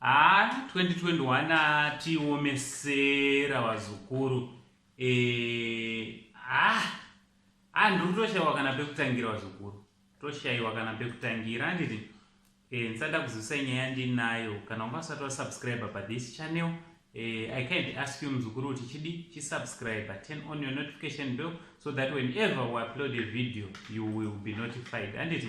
Haa 2021 haa tiomesera vazukuru eh, haa ah, ah, ndiri toshaiwa kana pekutangira vazukuru toshaiwa kana pekutangira handiti eh, ndisada kuzivisa nyaya ndinayo kana unga usati wasubscribe pathis channel eh, i kind ask you muzukuru kuti chidi chisubscribe turn on your notification bell so that whenever we upload a video you will be notified handiti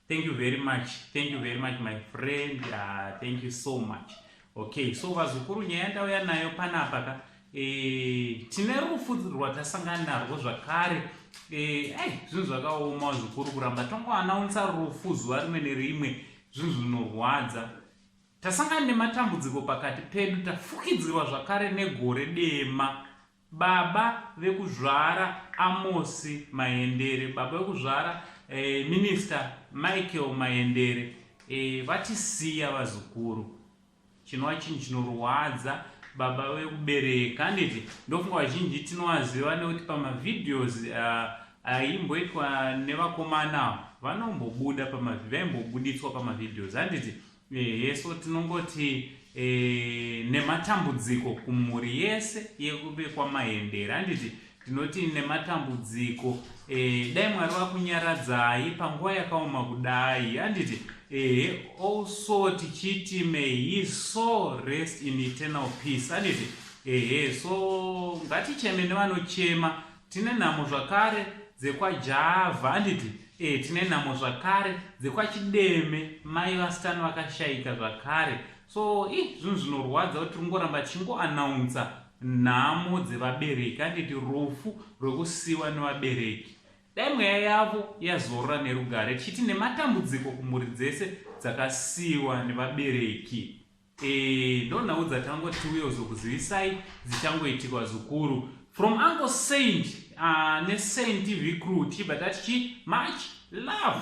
thank you very much thank you very much my friend uh, thank you so much okay so vazukuru nyaya yandauya nayo panapa ka e, tine rufu rwatasangana narwo zvakare eh, ai zvinhu zvakaoma zvikuru kuramba tongoanaunsa rufu zuva rimwe nerimwe zvinhu zvinorwadza tasangana nematambudziko pakati pedu tafukidzirwa zvakare negore dema Baba vekuzvara Amosi Mayendere, baba vekuzvara eh, Minister Michael Mayendere eh, vatisiya vazukuru. Chinova chinhu chinorwadza baba vekubereka handiti ndofunga vazhinji tinovaziva nekuti pamavideos ah, aimboitwa nevakomana vanombobuda vaimbobuditswa pamavideos handiti Ehe, so tinongoti e, nematambudziko kumhuri yese yekube kwamahendera handiti tinoti nematambudziko e, dai mwari vakunyaradzai panguva yakaoma kudai handiti ehe also tichiti may he so rest in eternal peace handiti ehe so ngaticheme nevanochema Tine nhamo zvakare dzekwa Java handiti? Eh, tine nhamo zvakare dzekwa Chideme mai vastan vakashaika zvakare. So, ih, zvinhu zvinorwadza kuti tingoramba tichingo announcer nhamo dzevabereki handiti rufu rwekusiwa nevabereki. Dai mweya yavo yazorora nerugare tichiti nematambudziko kumhuri dzese dzakasiwa nevabereki. Eh, ndo nhau dzatangoti tiuye uzokuzivisai dzichangoitikwa zukuru from uncle saint uh, ah, nesaint tv crew tichibva tati chi much love